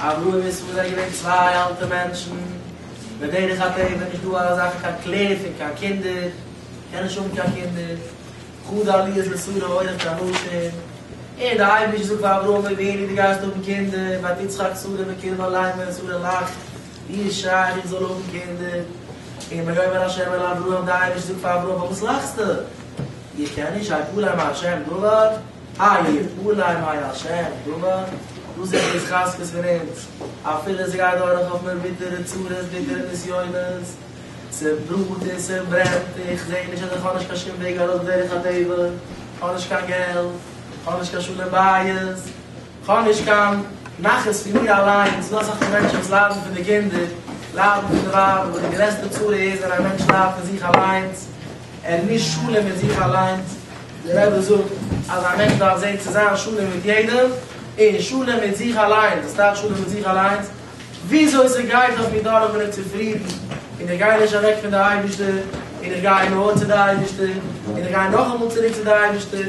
א ראה ונשמע זענען געווען צוויי אלטע מענטשן, בדרך הטבע נישט דא אזא זאך קיין קלער פון קיין קינדער, קען נישט האבן קיין קינדער, חו ד עליות לשררה אויך קיין נשים, און דער אייבערשטער זאגט פאר אברהם אבינו דו גייסט האבן קינדער, ואת יצחק שרה בקרבה אליין ווען שרה לאכט, ווי איז שייך איך זאל האבן קינדער, און ויאמר ה' אל אברהם דער אייבערשטער זאגט פאר אברהם פארוואס לאכסטו? איך קען נישט, ה' פלא מה ה' דבר? איי יפלא אם היה השם טובה, דאס איז די התחזקות פון אונז, אפילו ס'גייט דורך אויף מיר ביטערע צרות ביטערע נסיונות, ס'בראט און ס'ברענט, איך זע נישט אז איך האב נישט קיין שום וועג ארויס בדרך הטבע, כ'האב נישט קיין געלט, כ'האב נישט קיין שלום בית, כ'האב נישט קיין נחת פון מיר אליין, ס'דא אסאך פון מענטשן וואס ליידן פון די קינדער, ליידן פון די ווייב, אבער די גרעסטע צרה איז ווען א מענטש ליידט פון זיך אליינס, ער מוז שלום מיט זיך אליינס, דער רבי זאגט אז א מענטש דארף זען צו זיין שלום מיט יעדעם, און שלום מיט זיך אליינס, וואס טייטש שלום מיט זיך אליינס? וויאזוי ס'גייט אויף מיר דורך בין איך צופרידן, און איך גיי נישט אוועק פון די אייבערשטער, און איך גיי נאר צו די אייבערשטער, און איך גיי נאכאמאל צוריק צו די אייבערשטער.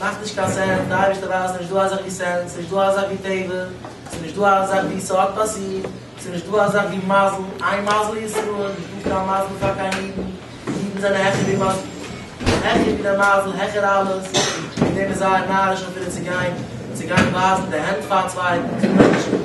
מאכט נישט קיין סענס, די אייבערשטער ווייסט ס'איז נישט דא אזעך ווי סענס, ס'איז נישט דא אזעך ווי טבע, ס'איז נישט דא אזעך ווי ס'האט פאסירט, ס'איז נישט דא אזעך ווי מזל, איין מזל אין ישראל, נישט דא קיין מזל פאר קיין אידן, אידן זענען העכער ווי מזל, העכער ווי די מזל, העכער אלעס, וועגן דעם איז זייער נאריש אפילו צו גיין, צו גיין ווייזן די הענט פאר א צווייטן, פאר מענטשן.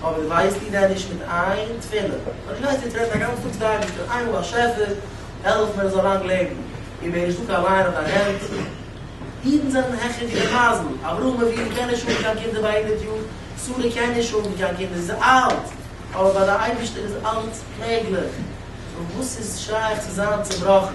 אבער ווייסט איר דען נישט מיט איין תפילה פאר די מענטש וועט רעדן א גאנץ טאג זייט נישט און איינמאל באשעפער העלף מיר ער זאל לאנג לעבן און מיר נישט דוקא אליין אויף דיין הענט אידן זענען העכער ווי די מייזן אברהם אבינו קען נישט האבן קיין קינדער ביי הונדערט יאר שרה קען נישט האבן קיין קינדער זי איז אלט אבער ביי די אייבערשטער איז אלץ מעגליך סאו וואס איז שייך צו זיין צובראכן?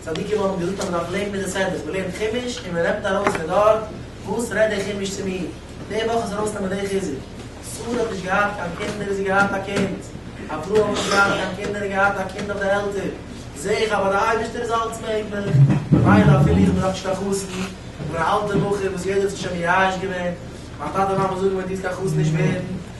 צדיקים האבן געזאגט אז מען דארף לערנען די סעדות, מען לערנט חומש און מען נעמט ארויס פון דארט וואס רעדט דער חומש צו מיר, די וואך איז ארויס נעמען די חיזוק, שרה האט נישט געהאט קיין קינדער איז זי געהאט א קינד, אברהם האט נישט געהאט קיין קינדער איז געהאט א קינד אויף די עלטער, זעה איך אז ביי די אייבערשטער איז אלץ מעגליך, ממילא אפילו איך בין נאך נישט קיין חתן, איך בין א אלטער בחור וואס יעדער האט זיך שוין מייאש געווען, מיין טאטע מאמע זאגן מיר דו וועסט קיין חתן נישט ווערן.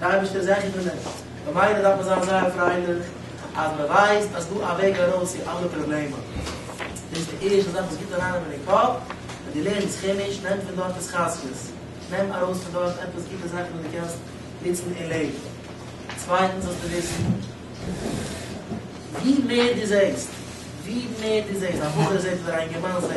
דער אייבערשטער זענען גוט מיט אונז, ממילא דארף מען זיין זייער פרייליך אז מען ווייסט אז ס'דא א וועג ארויס צו אלע פראבלעמען. דאס איז די ערשטע זאך וואס גיבט אריין אינעם קאפ, ווען דו לערנסט כעמיש, נעם פון דארט התחזקות, נעם ארויס פון דארט עפעס גוטע זאכן וואס דו קענסט נוצן אין לעבן. צווייטנס זאלסטו וויסן, ווי מער דו זעסט, ווי מער דו זעסט, א בחור זעט אדער א אינגערמאן זעט,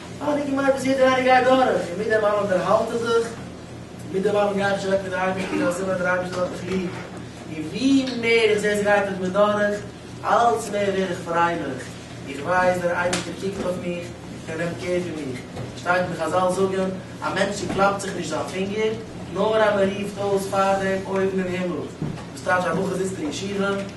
האב איך געמיינט אז יעדער איינער גייט דורך, און מיט דעם אלעם דערהאלט ער זיך, און מיט דעם אלעם גיי איך נישט אוועק פון די אייבערשטער ווייל סימן דער אייבערשטער האט מיך ליב, און ווי מער איך זעה ס'גייט מיט מיר דורך, אלץ מער ווער איך פרייליך, איך ווייס דער אייבערשטער קוקט אויף מיך, ער נעמט קער פון מיך, שטייט ווי חזל זאגן, א מענטש צוקלאפט זיך נישט זיין פינגער, נאר אז מ'רופט אויס פאר דעם אויבן אין הימל, וואס טייטש א בחור זיצט אין ישיבה,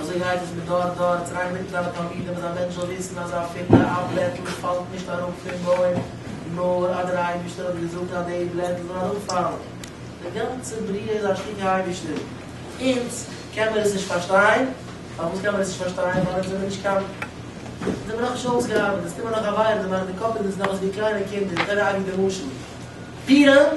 אזוי גייט עס מדור דור, צוויי מיטלערע תלמידים אז א מענטש זאל וויסן אז אפילו א בלעטל פאלט נישט אראפ פון בוים נאר אז דער אייבישטער האט געזאגט אז די בלעטל זאל אראפפאלן. די גאנצע בריאה איז א שטיקל אייבישטער. אונז קען מיר עס נישט פארשטיין. פארוואס קען מיר עס נישט פארשטיין? ווייל אונז זעמיר נישט קיין. אונז זעמיר נאכנישט אויסגעארבעט, אונז קומען נאך א וויילע, די קאפ איז אונז נאך אזויווי קליינע קינדער, דער רבי די משל, פירען.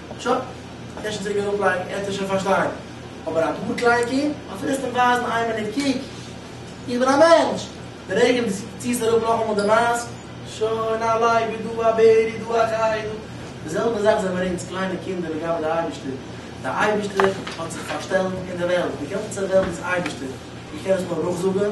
טשא, קענסט שוין צוריק אראפלייגן, עטס וועט שוין פארשטיין. אבער א דארט לייקי? אז ווילסט אים ווייזן איין מינוט קוק, איך בין א מענטש! די רגע דו ציעסט אראפ נאכאמאל די מאסק, שוין א לייק ווי דא א בערי דא א חיה דא. די זעלבע זאך זענען אונז קליינע קינדער לגבי די אייבישטער. די אייבישטער האט זיך פארשטעלט אין די וועלט, די גאנצע וועלט איז אייבישטער, איך קען עס נאר נאכזאגן.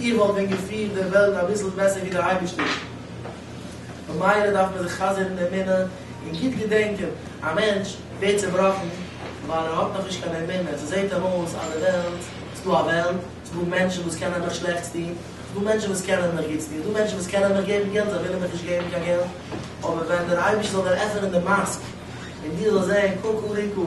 איך וואלט ווען געפירט די וועלט אביסל בעסער ווי די אייבערשטער, במילא דארף מען זיך חזר'ן אין אמונה און גוט געדענקען, א מענטש ווערט צובראכן ווייל ער האט נאכנישט קיין אמונה, ס'זעט אים אויס אז די וועלט, ס'דא א וועלט, ס'דא מענטשן וואס קענען מיך שלעכטס טון, ס'דא מענטשן וואס קענען מיך גוטס טון, ס'דא מענטשן וואס קענען מיך געבן געלט, זיי ווילן מיך נישט געבן קיין געלט, אבער ווען דער אייבערשטער זאל דיר עפענען די מאסק און דו זאלסט זען ק ק ריקו.